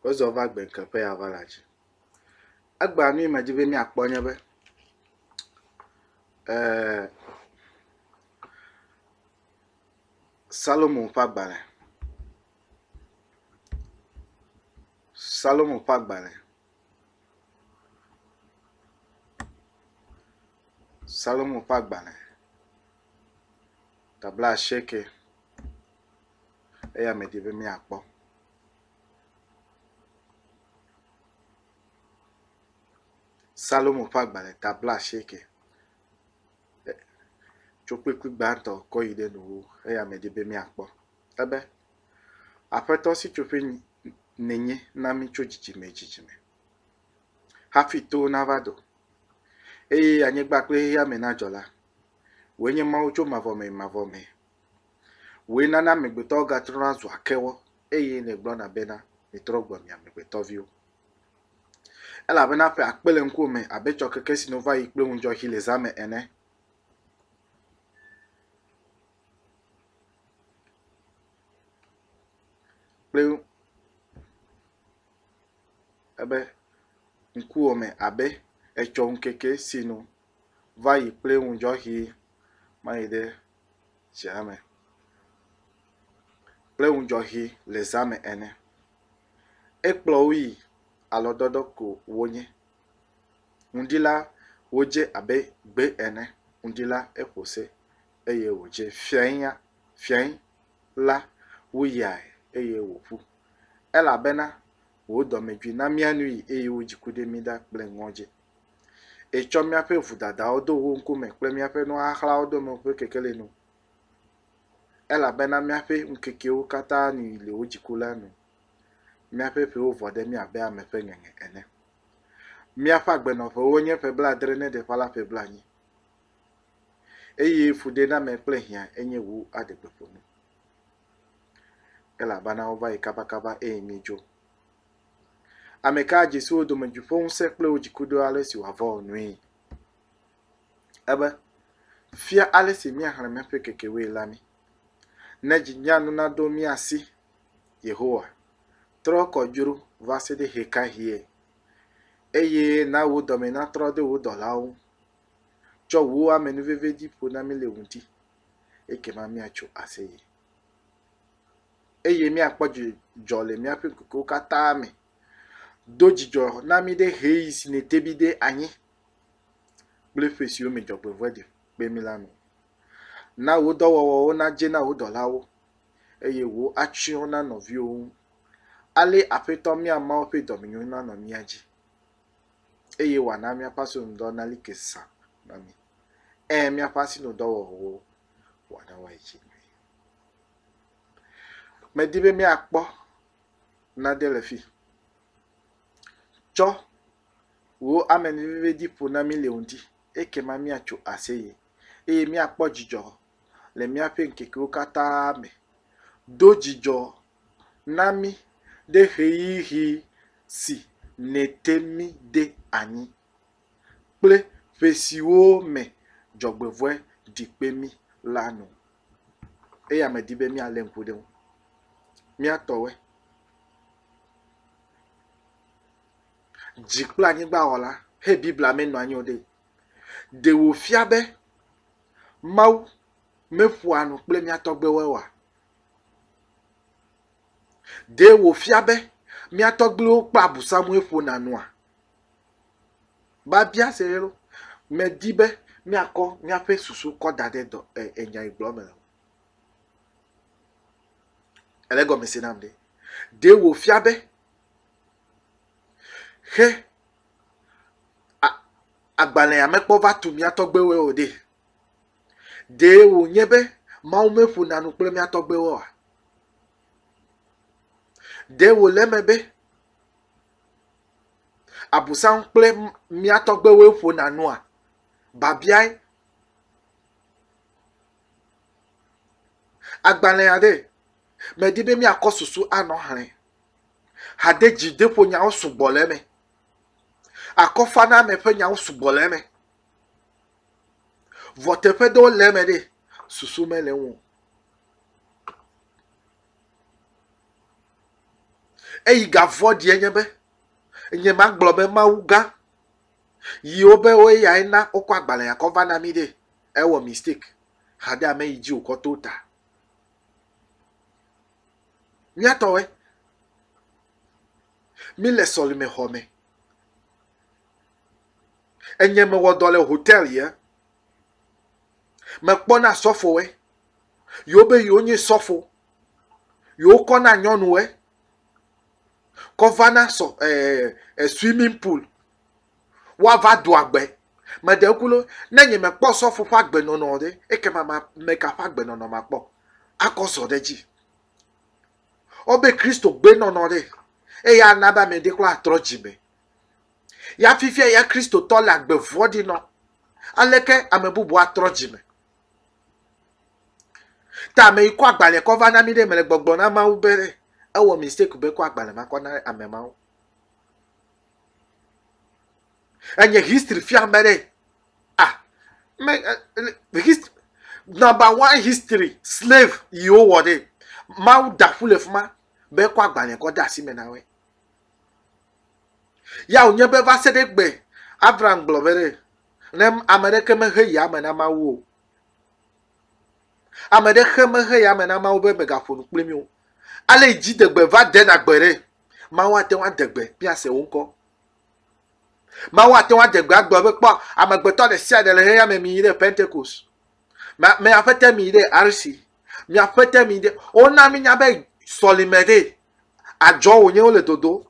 Wozɔ va gbe ke ƒe aʋala dzi. Egbea nu yi me dzi be míakpɔ nye be, e Salomo ƒe agbalẽ, Salomo ƒe agbalẽ, Salomo ƒe agbalẽ ta bla asieke. eya medi be míakpɔ. Salomo ƒe agbalẽ ta blaasieke. Tso kpukpui gbãtɔ kɔ yi ɖe nuwuwu eya medi be míakpɔ. Ebe, Aƒetɔ Sitsoƒe nènye na mí tso dzidzime yi dzidzime hafi towo nava do eye anyigba kple xexeame nadzɔ la, wòe nye Mawu tso mavɔ me yi mavɔ me. Wòe nana amegbetɔwo gatrɔna zua kewɔ eye nègblɔna bena, Mitrɔ gbɔ mi amegbetɔviwo. Elabena ƒe akpe le ŋkuwò me abe tsɔkeke si nu va yi kple ŋudzɔxi le zã me ene. Kple ebe ŋkuwò me abe etsɔ ŋkeke si nu va yi kple ŋudzɔxi ma yi ɖe. zea me kple ŋudzɔ ʋi le zea me ene. Ekplɔ wo yi alɔdɔdɔ ko wonye. Ŋdi la wodze abe gbe ene. Ŋdi la eƒo se eye wodze fiaŋya fiaŋ la woyae eye woƒu elabe wò dɔmedzoe na mía nu yi eye wò dziku ɖe mí ɖa kple ŋɔdzi. Ètsɔ míaƒe vodadawo do wò ŋkume kple míaƒe nuxaxlawo dome ƒe kekelinu, elabena míaƒe ŋkekewo katã nu yi le wò dziku la nu. Míaƒe ƒewo vɔ ɖe mí abe ame ƒe ŋeŋe ene. Míaƒe agbenɔƒewo nye ƒe blaadre ne ɖeƒã la ƒe blaenyi, eye fuɖename kple hiã enye wò aɖegbeƒonu. elabena wova yi kabakaba eye míedzo. Ame ka adze si wo dome dzi ƒe ŋusẽ kple wo dziku ɖo ale si wòava wɔ nui? Ebe, Fia ale si míaxlẽ míaƒe kekewoe la mí. Ne dzi nye anu naɖo mía si, Yehowa, trɔ kɔ dzro va se ɖe ɣekaɣie? Eye na wò dɔme natrɔ ɖe wò dɔlawo ŋu. Tsɔ wò amenuveve ɖi ƒo na mí le wò ŋuti. ekema míatso aseye, eye míakpɔ dzidzɔ le míaƒe ŋkekewo katã me. Do dzidzɔ na mí ɖe ʋeyiʋi si nète mí ɖe anyi kple ƒe siwo me dzɔgbevɔ̃e ɖi kpe mí la nu. Na wò dɔwɔwɔwo nadze na wò dɔlawo, eye wò atsyɔ̃ na nɔviwò ŋu. Ale Aƒetɔ mía Mawu ƒe dɔmenyo nanɔ mía dzi eye wòana míaƒe asinudɔ nali ke zã na mí. Ẽ, míaƒe asinudɔwɔwɔwo wòana woayi dzi nyuie. Medi be míakpɔ nane le fi. Tsɔ wò amenuvevedi ƒo na mí le ŋdi ekema míatso aseye eye míakpɔ dzidzɔ le míaƒe ŋkekewo katã me. Do dzidzɔ na mí ɖe ɣeyiɣi si nète mí ɖe anyi kple ƒe siwo me dzɔgbevɔ̃e ɖi kpe mí la nu. Eya medi be míalé ŋku ɖe eŋu. Mía tɔwoe. Dzi kple anyigba wɔla. He Biblia me nɔ anyi o ɖee, ɖe wòfia be Mawu meƒoa nu kple mía tɔgbuiwoe oa? Ɖe wòfia be mía tɔgbuiwo kpɔa abusamue ƒona nua? Biabia se ye ɖo. Medi be míakɔ míaƒe susu kɔ da ɖe dɔ e, enyagblɔ me o. Ele gɔme se nam ɖe. Ɖe wòfia be xe agbalẽa mekpɔ va tu mía tɔgbuiwoe o ɖe. Ɖee wònye be Mawu meƒona nu kple mía tɔgbuiwoa? Ɖe wòle eme be Abosam kple mía tɔgbuiwoe ƒona nua? Babiae. Agbalẽ aɖe, medi be míakɔ susu anɔ xlẽ. Hadedzideƒonyawo sugbɔ le eme. Akɔfaname ƒe nyawo sugbɔ le eme. Vɔ teƒe ɖewo le eme ɖe, susu mele eŋu o. Eyi ga vɔ̃ɖie nye be, nye ma gblɔ be Mawu gã yiwo be wo ya na wokɔ agbalẽ ya kɔ va na mi ɖe, ewɔ mistake xa ɖe ame yi dzi wòkɔ to ta. Míatɔwoe, míle sɔlime xɔ me. Enye mewɔ dɔ le hotel ye. Mekpɔ na sɔfo ye. Yewo be yewo nye sɔfo. Yewo kɔ na nyɔnu ye. Kɔ va na sɔ ɛɛ eh, eh, swimming pool. Woava do agbe. Meɖe ŋku lo, ne nye mekpɔ sɔfo ƒe agbenɔnɔ ɖe, ekema ma me ka ƒe agbenɔnɔ makpɔ? Akɔ zɔ ɖe dzi. Wobe Kristo gbenɔnɔ ɖe. Eya ana be ame ɖe kura atrɔ dzime. Ya fifia ya Kristotɔ le agbe vɔ̃ɖi nɔ. Aleke ame bubu atrɔ dzi me? Ta ame yi kɔ agbalẽ kɔ va na mi ɖe mele gbɔgblɔ na Mawu be ewɔ mistake be kɔ agbalẽ ma kɔ na ame mawo. Enye history fia ame ɖe. Ah, me, uh, hist, number one history slave yiwo wɔ ɖe. Mawu da ƒu le fuma be kɔ agbalẽ kɔ de asi me na woe. Ya wònye be va se ɖe egbe Abram gblɔ be ɖe ne ame aɖeke mexe yame na Mawu o. Ame ɖe xe mexe yame na Mawu be megaƒo nu kpli mí o. Ale yi dzidegbe va dena gbe ɖe, Mawu ate ŋu adegbe míase wo ŋkɔ. Mawu ate ŋu adegbe agblɔ be kpɔ amegbetɔ ɖe sia ɖe le xexeame mi yi ɖe Pentekos. Miaƒete mi yi ɖe Arsi. Miaƒete mi yi ɖe wona mínya be sɔlime ɖe Adzɔ wònye wole dodo.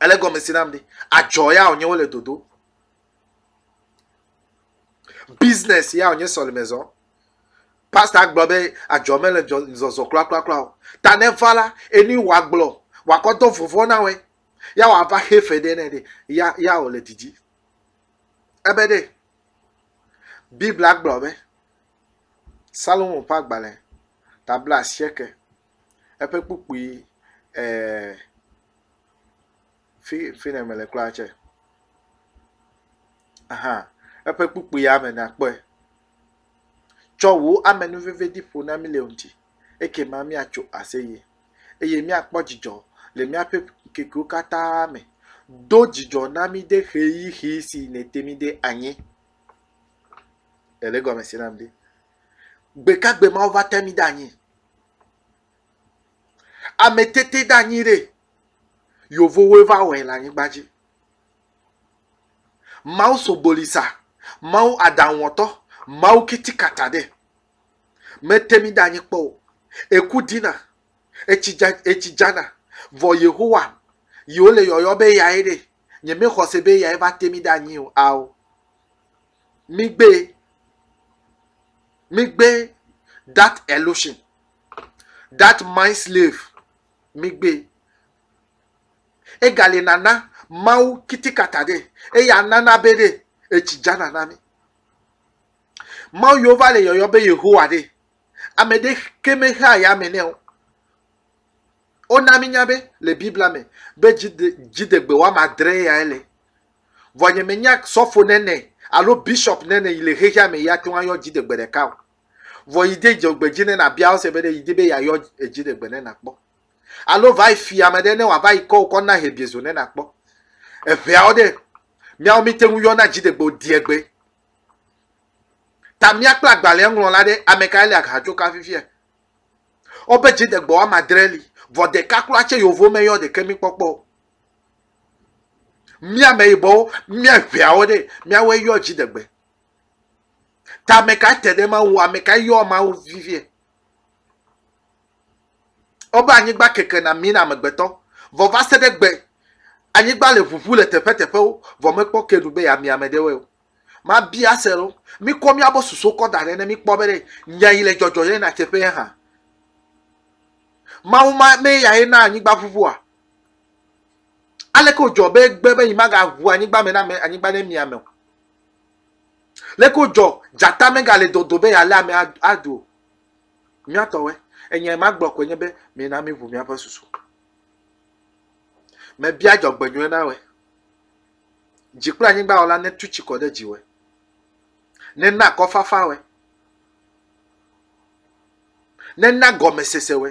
Ele gɔme si nam ɖi. Adzɔ ya wònye wole dodo. Business ya wònye sɔlime zɔ. Pastor gblɔ be adzɔ mele zɔzɔ kplakplakpla o. Ta ne va la, enu wòa gblɔ, wòakɔ dɔ vɔvɔ na wɛ. Ya wòava xe fe ɖe ne ɖe, ya, ya wòle didi. Ebe ɖe, Biblia gblɔ be, Salomo ƒe agbalẽ ta bla asieke eƒe kpukpui e fi fi yi ne mele kura tse aha eƒe kpukpui ya me nakpɔe. Tsɔ wò amenuvevi ƒo na mí le ŋuti ekema míatso aseye eye míakpɔ dzidzɔ le míaƒe ŋkekewo katã me. Do dzidzɔ na mí ɖe ʋeyiʋi si nète mí ɖe anyi. Ele egɔme se nam ɖi. Gbe ka gbe Mawu va te mi ɖe anyi? Ame tete ɖe anyi ɖe yovowoe va wɔe le anyigba dzi. Mawu sogbolisa, Mawu aɖaŋuwɔtɔ, Mawu kitikata ɖe mete mi ɖe anyi kpɔ o. Eku dina, etsi dza, etsi dzana, vɔ Yehowa yiwo le yɔyɔ be yae ɖe nye me xɔse be eyae va te mi ɖe anyi o ao mi gbe mi gbe that illusion that mind slave mi gbe ega le nana mawu kitikata ɖe eya nana be ɖe etsi dza nana mi mawu yewo va le yɔyɔ be yehowa ɖe ame ɖe ke me hea ya me ne o Wona mínya be le Biblia me be dzide, dziɖegbe wɔame adre yae le. Vɔ nye menya sɔfo nene alo bishop nene yi le xexea me yi ate ŋu ayɔ dziɖegbe ɖeka o. Vɔ yi de dzɔgbe dzi ne nabia wo se be ɖe yi di be yeayɔ dziɖegbe ne nakpɔ. Alo va yi fi ame ɖe ne wòava yi kɔ wò kɔ na hebiezo ne nakpɔ. Eŋeawo ɖe, míawo míte ŋu yɔna dziɖegbe o diegbe. Ta mía kple agbalẽa ŋlɔla ɖe, ame kae le ahatso ka fifia? Wobe dzidegbɔ woame adre li, vɔ ɖeka kura tse yovo me yɔ ɖeke mi kpɔkpɔ o. Mía ameyibɔwo, mía ŋeawo ɖe, míawoe yɔ dziɖegbe. Ta ame kae te ɖe Mawu ŋu? Ame kae yɔ Mawu vivie? Wobe anyigba keke na mí na amegbetɔ, vɔ va se ɖe gbe, anyigba le ʋuʋu le teƒeteƒewo, vɔ mekpɔ ke nu be yeamia ame ɖe wɔe o. Mabia se lo. Mikɔ miabo susu kɔ da ɖɛ ne mikpɔ be ɖe nya yi le dzɔdzɔ ye na tseƒe ye hã. Mawu ma me ya ye na anyigba ʋuʋua. Aleke wòdzɔ be egbe be yi magaʋu anyigba me na ame anyigba ne mia me o. Leke wòdzɔ dzata megale dodo be yealé ame aɖu o. Mía tɔwoe. Enya yi magblɔ koe nye be mina miʋu miaƒe susu. Mebia dzɔgbenyuie na wòe. Dzi kple anyigba wɔla netu tsi kɔ ɖe dziwɔe, nena akɔfafawɔe, nena gɔmesesewɔe.